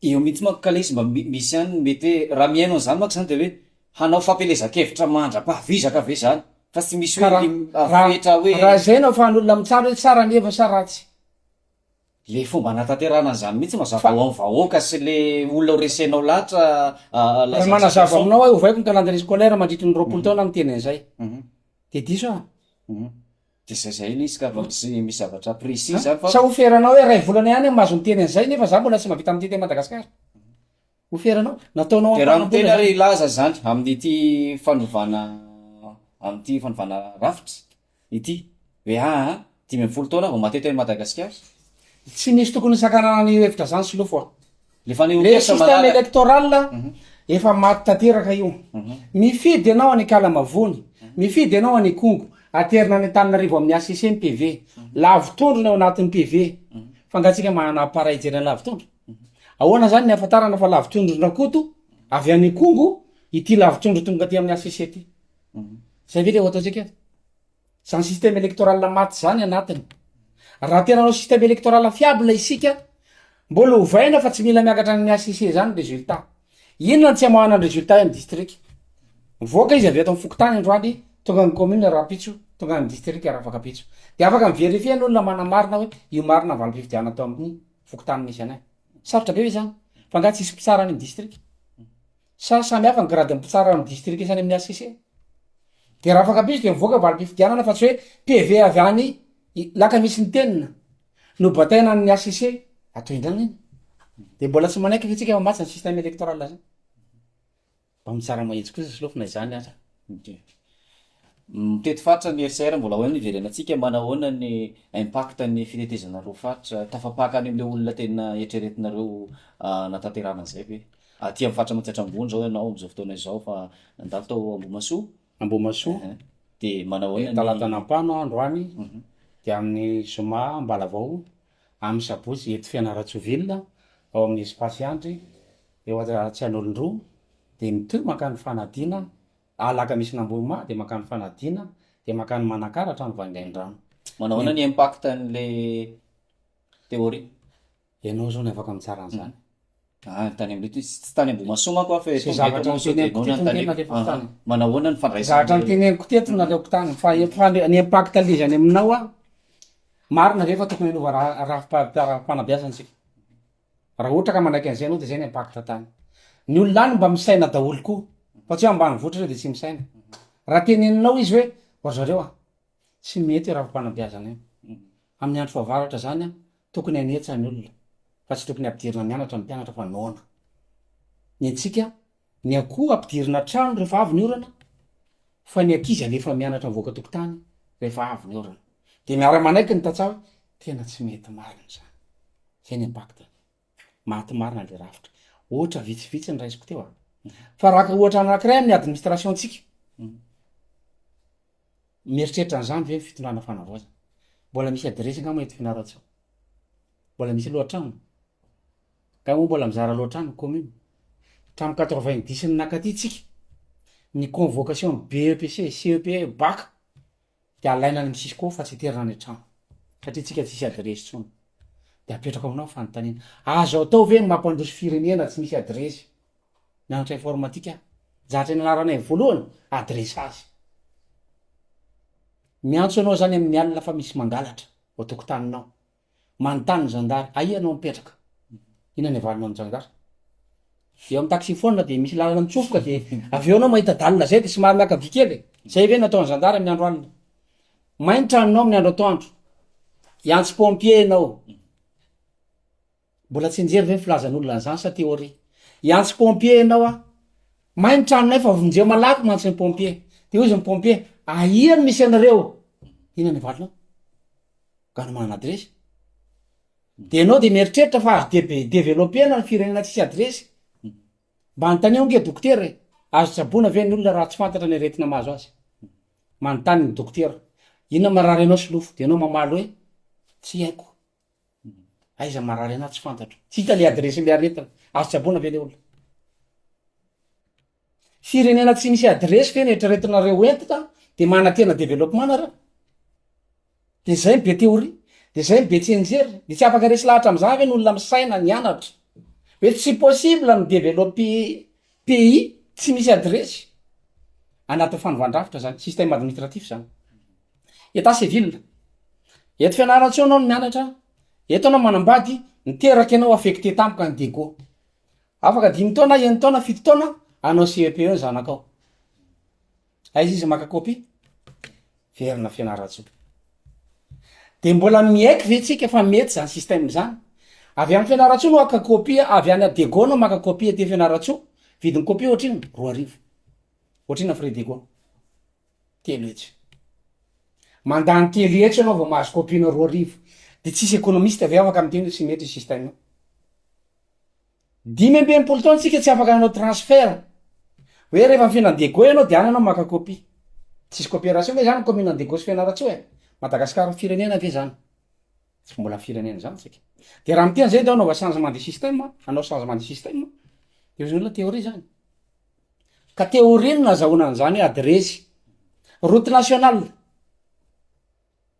Eo mihitsy manko ka lesy mba misy ihany ny mety hoe raha mihaino an'izany manko izany dia hoe hanao fampielezan-kevitra mandra-pahavizaka ve izany fa tsy misy hoe afetra hoe raha izay no ahafahan'olona mitsara hoe tsara ny hevitra sa ratsy Le fomba anatanterahana an'izany mihitsy mazava ho an'ny vahoaka sy le olona ho resenao lahatra la Raha manazava aminao aho ovaiko ny calendrier scolaire mandritry ny roapolo taona miteny an'izay de diso aho. De zay zay le izy ka fa tsy misy zavatra précis zany fa. Sa ho feranao hoe iray volana ihany aho mahazo miteny an'izay nefa za mbola tsy mahavita miteny teny Madagascar? Ho feranao? Nataonao am-panambola zany. De raha miteny ary hilaza zany amin'ity fanovana amin'ity fanovana rafitra Ity. VA, Dimy ambin'ny folo taona vao maty teny Madagasikara. Tsy nisy tokony hisakanana an'io hevitra zany Solofo a. Le fanehoan kevitra malala. Le système électoral efa maty tanteraka io. Mifidy ianao any Kalamavony, mifidy ianao any Ikongo, aterina any Antananarivo amin'ny HCC ny PV. Lavotondro ny ao anatin'ny PV. Fa nga tsika manana appareil hijery ny lavotondro? Ahoana zany ny ahafantarana fa lavotondron-dRakoto avy any Ikongo ity lavotondro tonga aty amin'ny HCC ty? Zay ve le ho ataontsika eto? Zany système électoral maty zany anatiny. Raha tena hanao système électoral fiable isika, mbola ovaina fa tsy mila miakatra any amin'ny HCC zany ny résultat. Inona no tsy amoahana ny résultat eo amin'ny district? Mivoaka izy avy eto amin'ny fokontany androany, tonga amin'ny commune rahampitso, tonga any district rafakapitso. De afaka mi-verifier ny olona manamarina hoe io marina ny valim-pifidianana tao amin'ny fokontany misy anay. Sarotra be ve zany? Fa angaha tsisy mpitsara any amin'ny district? Sa samy hafa ny gradin'ny mpitsara amin'ny distrika sy any amin'ny HCC? Dia raha afaka piso dia mivoaka valim-pifidianana fa tsy hoe PV avy any Lakamisy Ntenina no bataina any amin'ny HCC. Atao indrana iny. Dia mbola tsy manaiky ve tsika fa maty ny système électoral zany? Mba mitsara mahitsy kosa Solofo na izany aza. Mitety faritra ny HCR mbola ahoana iverenantsika, manahoana ny impact ny fitetezana roa faritra, tafapaka any amle olona tena eritreretinareo hanatanterahana anzay ve? Aty amin'ny faritra Mantsy Antrambony zao ianao amzao fotoana izao fa nandalo tao Ambohimasoa? Ambohimasoa? Ehe, de manahoana ny. Talata nampano aho androany, de amin'ny zoma Ambalavao, amin'ny sabotsy eto Fianarantsoa ville ao amin'ny espace Andry eo Antsian'olondroa, de mitohy mankany Fanadina, Alakamisy nambohima dia mankany fanadina dia mankany manakara hatrany vangaindrano. Manao ahoana ny impact an'ilay théorie? Ianao zao no afaka mitsara an'izany. Ah, tany am tsy tany Ambohimasoa manko aho fa eto Tonga eto mantsy dia noana ny tany eto. Manao ahoana ny fandraisana? Zavatra noteneniko teto naleoko tany fa ny impact an'ilay izy any aminao an, marina ve fa tokony hanova rafi-panabeazana isika? Raha ohatra ka manaiky an'izay ianao dia izay ny impact tany. Ny olona any mba misaina daholo koa fa tsy hoe ambanivohitra ireo dia tsy misaina. Raha teneninao izy hoe ry zareo a! tsy mety io rafi-panabeazana io. Amin'ny andro fahavaratra izany a! tokony hanetsa ny olona fa tsy tokony hampidirina mianatra ny mpianatra fa noana. Ny antsika Ny akoho ampidirina an-trano rehefa avy ny orana fa ny ankizy alefa mianatra mivoaka tokotany rehefa avy ny orana. Dia miara-manaiky ny tantsaha hoe tena tsy mety marina izany. Izay ny impact-ny. Maty marina ilay rafitra. Ohatra vitsivitsy ny raisiko teo an. Fa araka ohatra anankiray amin'ny administration-tsika, mieritreritra an'izany ve ny fitondrana fanavaozana? Mbola misy adiresy angamba eto Fianarantsoa? Mbola misy lohatrano? Ka moa mbola mizara loatra any ny commune? Hatramin'ny quatre-vingt-dix ny nakaty tsika, ny convocation ny BEPC, CEPE, bac de alaina any amin'ny cisco fa tsy aterina any an-trano satria tsika tsisy adiresy tsony de apetrako aminao fanontaniana, azo atao ve ny mampandroso firenena tsy misy adiresy? Mianatra informatique aho, zatra nianaranay voalohany adressage. Miantso anao zany amin'ny alina fa misy mangalatra ao tokotaninao. Manontany ny zandary, aia ianao mipetraka? Inona ny avalinao ny zandary? Eo amin'ny taxi-phone dia misy lalana mitsofoka dia avy eo ianao mahita dalina izay dia somary miaka vy kely e! Izay ve no ataon'ny zandary amin'ny andro alina? May ny tranonao amin'ny andro atoandro, hiantso pompier ianao, mbola tsy nijery ve ny filazan'olona an'izany sa théorie? Hiantso pompier ianao an! May ny tranonay fa vonjeo malaky mantsy ny pompier. Dia hoy izy ny pompier, aia no misy anareo? Inona ny avalinao? ka no manana adiresy de enao de mieritreritra fa azo deve- developena ny firenena tsisy adiresy mba anontanio ange dokotera e azo tsaboina ve ny olona raha tsy fantatra ny aretina mahazo azy manontany ny dokotera inona marary anao solofo de enao mamaly hoe tsy haiko aiza marary anah tsy fantatro tsy hita le adiresy le aretina azo tsaboina ve le olona Firenena tsy misy adiresy ve ny eritreretinareo ho entina de manantena development nareo? de zay no be theorie? de zay no be tsy enjery? de tsy afaka resy lahatra amzany ve ny olona misaina nianatra? hoe tsy possible ny developpe pays tsy misy adiresy anatin'ny fanovan-drafitra zany système administratif zany etat civil eto fianarantsoa anao no mianatra eto anao manambady niteraka enao affecte tampoka any dego Afaka dimy taona, eny taona, fito taona, hanao CEP eo ny zanakao. Aiza izy maka copie? Verina Fianarantsoa. De mbola miaiky ve tsika fa mety zany système zany? Avy any Fianarantsoa no haka copie, avy any Adego no maka copie aty Fianarantsoa, vidin'ny copie ohatrino? Roa arivo. Ohatrina frais dego? Telo hetsy. Mandany telo hetsy anao vao mahazo copie-nao roa arivo. De tsisy économiste ve afaka miteny hoe tsy mety io système io? Dimy amby enimpolo taona tsika tsy afaka nanao transfert hoe rehefa ny fiainan'i Diego ianao dia any ianao maka copie. Tsisy cooperation ve zany commune Diego sy Fianarantsoa e? Madagascar firenena ve zany? Tsy mbola firenena zany tsika. Dia raha miteny zay dia anaova changement de système, hanao changement de système dia hoy ny olona théorie zany. Ka théorie no nazahoana an'izany hoe adiresy, route nationale.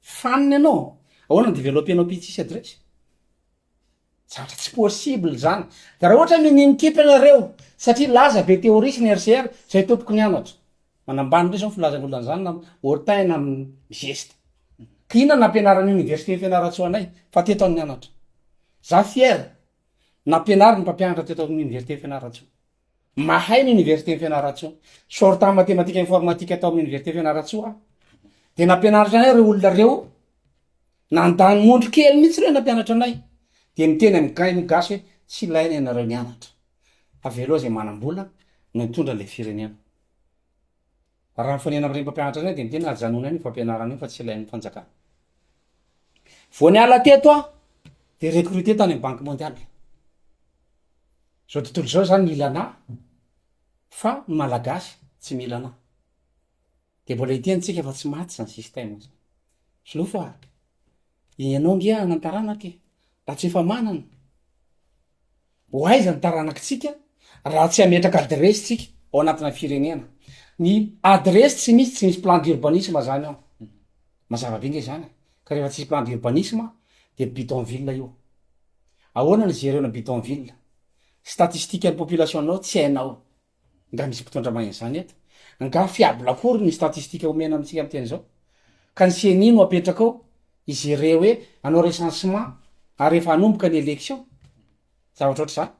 Fanina ianao? Ahoana ny developer-nao pitsy isa adresse? Zatra tsy possible zany. De raha ohatra mini mikipy ianareo, satria laza be theorie sy ny RCR, zay tompoko ny anatra. Manambany ndray zao ny filazan'ny olona an'zany na haut-teint na geste. Ka inona ny nampianarin'ny université Fianarantsoa anay fa teto aho nianatra. Za fier, nampianarin'ny mpampianatra teto amin'ny université Fianarantsoa. Mahay ny Oniversiten'i Fianarantsoa. Sortant matematika informatika tao amin'ny Oniversite Fianarantsoa aho. Dia nampianariko anay ireo olona ireo, nandany mondro kely mihitsy ireo nampianatra anay. Dia miteny amin'ny gay ny gasy hoe tsy ilaina ianareo nianatra. Avelao izay manam-bola no hitondra ilay firenena. Raha mifanena amin'ireny mpampianatra ireny dia ny tena ajanony any io fampianarana io fa tsy ilain'ny fanjakana. Vao niala teto aho dia recruté tany amin'ny banque mondiale. Izao tontolo izao izany mila anah fa ny malagasy tsy mila anah. Dia mbola hiteny tsika fa tsy maty izany système izany. Sinoa fa ianao nge hanantarana ity raha tsy efa manana. Ho aiza ny taranakitsika raha tsy hametraka adiresy tsika ao anatina firenena? Ny adiresy tsy misy tsy misy plan d'urbanisme zany ao. Mazava be nge zany ka rehefa tsisy plan d'urbanisme de bidonville io. Ahoana ny jereo ny bidonville? Statistique ny population nao tsy hainao. Nga misy mpitondra mahay an'izany eto? Nga fiable akory ny statistika omena amintsika miteny izao? Ka ny ceni no apetraka ao higere hoe hanao recensement ary efa hanomboka ny election? Zavatra ohatr'izany?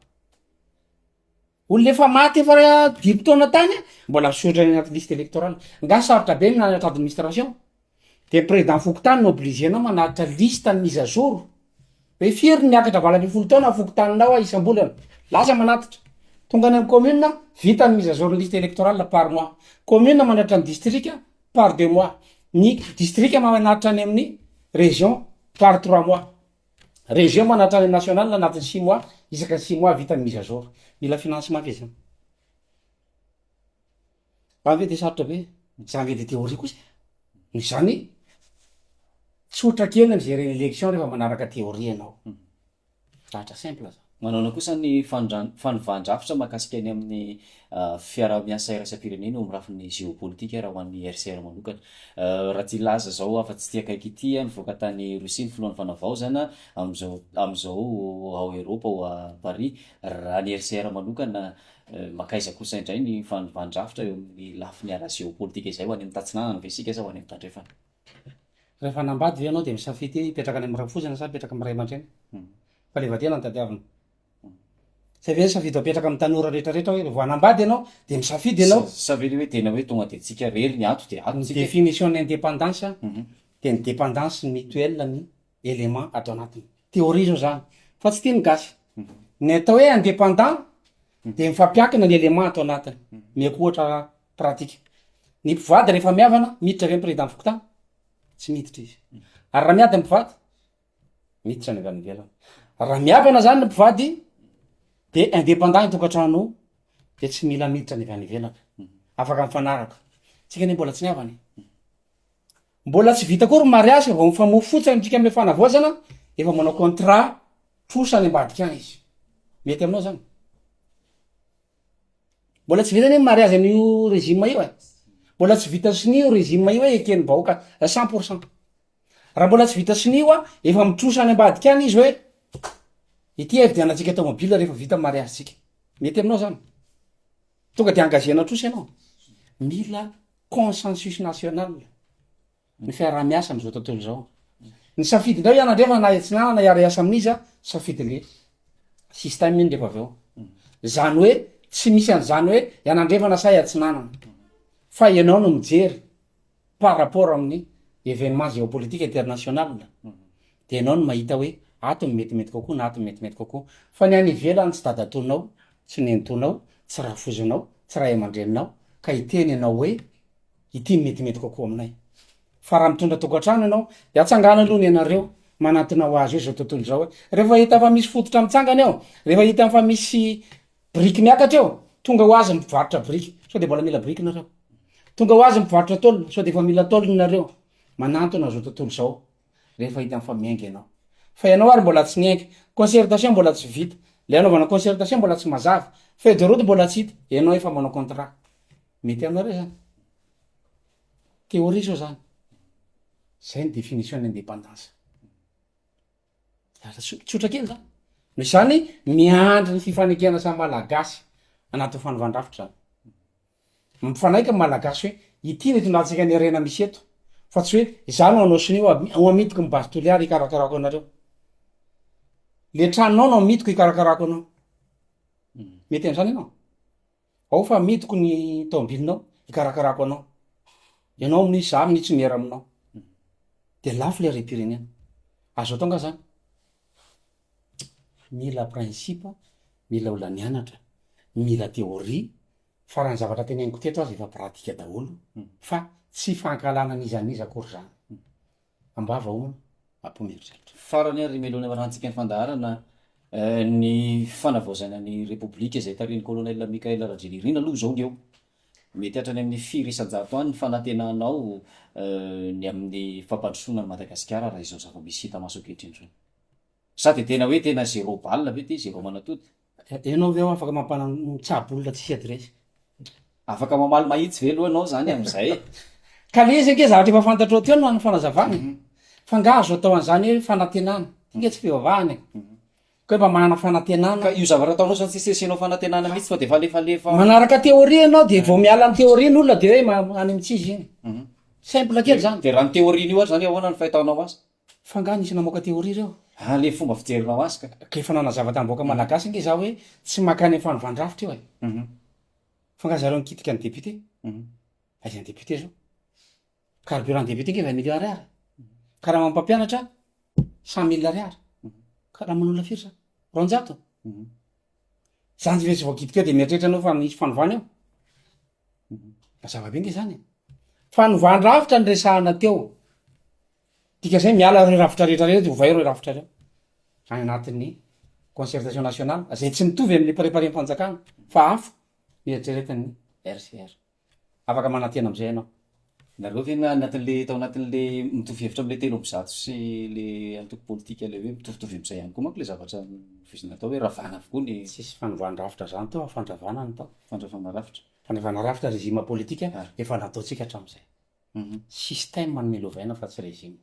Olona efa maty efa dimy taona tany mbola misotra any anaty liste electorale. Nga sarotra be ny nanana administration? Dia président fokontany no obligé nao manaritra liste ny mise à jour, hoe firy ny miakatra valo ambin'ny folo taona fokontaninao a isam-bolana, lasa manatitra, tonga any amin'ny commune a, vita ny mise à jour ny liste électorale par mois, commune manaritra ny distrika par deux mois, ny distrika manaritra any amin'ny région par trois mois, région manaritra any amin'ny national anatin'ny six mois, isaka six mois vita ny mise à jour, mila financement ve zany? Raha ve dia sarotra be mijanjy edy theorie kosa e? Noho izany tsotra kely ny mi-gerer ny lection rehefa manaraka theorie ianao. Lahatra simple izany. Manaona kosa ny fanondran- fanovan-drafitra mahakasika ny amin'ny fiaraha-miasa iraisam-pirenena eo amin'ny lafiny géopolitique raha ho an'ny RCR manokana. Raha ity laza izao afa-tsy ity akaiky ity, nivoaka tany Russie ny filohan'ny Fanavaozana amin'izao amin'izao ao Eropa ao Paris. Raha ny RCR manokana Mankaiza kosa indray ny fanivan-drafitra eo amin'ny lafiny ara-jeopolitika izay, ho any amin'ny tatsinanana ve isika sa ho any amin'ny tandrefana? Rehefa hanambady ve ianao dia misafidy hoe hipetraka any amin'ny rafozana sa hipetraka amin'ny ray aman-dreny? Fahaleovantena no tadiavina. Sa ve safidy ho apetraka amin'ny tanora rehetra rehetra hoe vao hanambady ianao dia misafidy ianao? Sa ve le hoe tena hoe tonga dia tsika rery ny ato dia ato tsika e? Ny definition-n'ny independance dia ny dependance mutuelle-ny. élément ato anatiny. Théorie zao zany fa tsy tian'ny gasy. Ny atao hoe indépendant dia mifampiankina ny élément ato anatiny. Omeko ohatra pratique. Ny mpivady rehefa mihavana, miditra ve ny président fokontany? Tsy miditra izy. Ary raha miady ny mpivady? Miditra ny avy any ivelany. Raha mihavana zany ny mpivady dia indépendant ny tokantrano io dia tsy mila miditra ny avy any ivelany. Afaka mifanaraka. Tsika anie mbola tsy nihavana e. Mbola tsy vita koa ry mariazy ka vao mifamoa fotsiny tsika amle fanavaozana efa manao contrat trosa any ambadika any izy mety aminao zany mbola tsy vita anie ny mariazy an'io régime io e mbola tsy vita sonia io régime io hoe eken'ny vahoaka cent pour cent raha mbola tsy vita sonia io a efa mitrosa any ambadika any izy hoe ity hividianantsika tomobile rehefa vita ny mariazy tsika mety aminao zany tonga de engagena trosa ianao mila consensus national ny fiaraha-miasa amin'izao tontolo izao. Ny safidinao ianao ndray fa na atsinanana hiara-hiasa amin'iza, safidin'le système iny rehefa avy eo. Zany hoe tsy misy an'izany hoe ianandrefana sa iatsinanana fa ianao no mijery par rapport amin'ny événement géopolitique international. Dia ianao no mahita hoe ato no metimety kokoa na ato no metimety kokoa. Fa ny any ivelany tsy dadatoanao, tsy nenitoanao, tsy rafozanao, tsy ray aman-dreninao ka hiteny ianao hoe ity no metimety kokoa aminay. Fa raha mitondra tokantrano ianao dia atsangano aloha ny anareo manantona ho azy eo izao tontolo izao hoe rehefa hita fa misy fototra mitsangana eo, rehefa hita fa misy biriky miakatra eo, tonga ho azy ny mpivarotra biriky sao dia mbola mila biriky nareo, tonga ho azy ny mpivarotra tôle sao dia efa mila tôle nareo, manantona izao tontolo izao. rehefa hitany fa miainga ianao fa ianao ary mbola tsy niainga concertation mbola tsy vita le anaovana concertation mbola tsy mazava feuille de route mbola tsy hita ianao efa manao contrat mety aminareo zany théorie zao zany zay ny définition ny indépendance lasa tso- tsotra kely zany no izany miandry ny fifanekena samy malagasy anatin'ny fanaovan-drafitra zany Mifanaiky ny malagasy hoe ity no itondrantsaika ny harena misy eto fa tsy hoe za no anao sonia ho amidiko ny base toliary hikarakarako anareo le tranonao no amidiko hikarakarako anao mety an'zany ianao ao fa amidiko ny taobilinao hikarakarako anao ianao minia za minia tsy miera aminao de lafo le harem-pirenena azo atao nga zany mila principe mila olona nianatra mila theorie Fa raha ny zavatra teneniko teto aza efa pratika daholo fa tsy fankahalana an'iza an'iza akory izany. Am-bava homana, am-po mieritreritra. Farany ary melohina amarahantsika ny fandaharana ny fanavaozana ny Repoblika izay tarihin'ny Colonel Michael Rajelirina aloha izao ny eo. Mety hatrany amin'ny firy isan-jato any ny fanantenanao ny amin'ny fampandrosoana an'i Madagasikara raha izao zava-misy hita maso ankehitriny izao. Sa dia tena hoe tena zéro balle ve ity, zéro manatody? Enao ve afaka mampana mitsabo olona tsisy adiresy? Afaka mamaly mahitsy ve aloha ianao zany amin'izay e? Ka le izy ange zavatra efa fantatrao teo no an'ny fanazavana e. Fa nga azo atao an'izany hoe fanantenana? Io nge tsy fivavahana e. Ka hoe mba manana fanantenana. Ka io zavatra ataonao zany tsisy asianao fanantenana mihitsy fa de efa lefalefa. Manaraka théorie ianao de vao miala ny théorie ny olona de hoe ma- any amin'i tsy izy iny. Simple kely zany. De raha ny théorie-nio ary zany ahoana ny fahitanao azy? Fa nga nisy namoaka théorie reo? Ah le fomba fijerinao azy ka. Ka efa nanazava tam vahoaka malagasy nge za hoe tsy makany am fanovan-drafitra io e. Fa nga zareo nikitika ny député? Aiza ny député zao? Carburant député nge vingt millions ariary. Karamam mpampianatra cent mille ariary. Karaman'olona firy zany? Roanjato? Zany rehetra voakitika eo de mieritreritra anao fa misy fanovana eo? Mazava be nge zany e. Fanovan-drafitra no resahana teo. Dika zay miala ireo rafitra rehetra ireo de ovay ireo rafitra ireo any anatin'ny concertation nationale zay tsy mitovy amin'ny préparem-panjakana fa hafa ny eritreretin'ny RCR. Afaka manantena amizay ianao. Nareo ve na anatin'le tao anatin'le mitovy hevitra am'le telo amby zato sy le antoko politika le hoe mitovitovy am'zay ihany koa manko le zavatra novoizina atao hoe ravana avokoa ny Tsisy fanovàn-drafitra zany tao, fandravana no tao. Fandravana rafitra. Fandravana rafitra régime politika efa nataontsika hatram'izay. Système no milovaina fa tsy régime.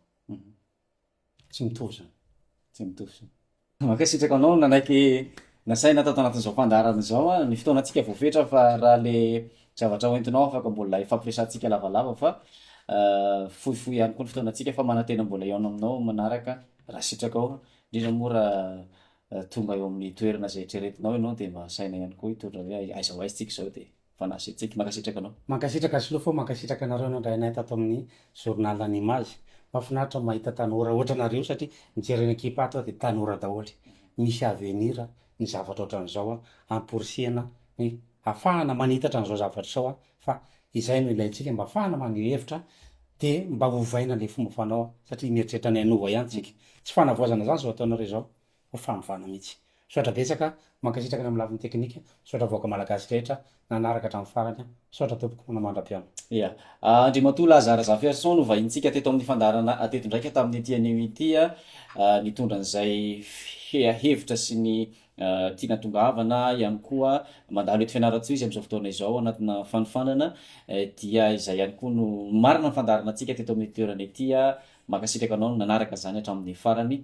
Tsy mitovy izany. Tsy mitovy izany. Mankasitraka anao nanaiky nasaina tato anatin'izao fandaharana izao an! Ny fotoanantsika voafetra fa raha le zavatra hoentinao afaka mbola hifampiresahantsika lavalava fa fohifohy ihany koa ny fotoanantsika fa manantena mbola hihaona aminao manaraka raha sitrakao, indrindra moa raha tonga eo amin'ny toerana izay eritreretinao ianao dia mba asaina ihany koa hitondra hoe aiza ho aiza tsika izao dia. Fanasy Tseky mankasitraka anao. Mankasitraka Slow fo mankasitraka anareo nandray anay tato amin'ny journal an image mafinaritra mahita tanora ohatranareo satria mijery ny ekipa ato aho dia tanora daholo misy avenir ny zavatra ohatran'izao an hamporisihana ny hafahana manitatra an'izao zavatra izao an fa izay no ilaintsika mba hafahana maneho hevitra dia mba ovaina ilay fomba fanao satria mieritreritra ny hanova ihany tsika tsy fanavaozana izany izao ataonareo izao ho fanovana mihitsy. Misaotra betsaka, mankasitraka ny amin'ny lafiny teknika, misaotra vahoaka malagasy rehetra nanaraka hatramin'ny farany an! Misaotra tompoko, manao mandra-pihaona. Ia. Andriamatoa Laza Razafiarison no vahinintsika teto amin'ny fandaharana teto indraika tamin'ity anio ity, nitondra an'izay hevitra sy ny tiana tongavana ihany koa mandalo eto Fianarantsoa izy amin'izao fotoana izao anatina fanofanana dia izay ihany koa no marina ny fandaharanantsika teto amin'ity toerana ity, mankasitraka anao nanaraka izany hatramin'ny farany.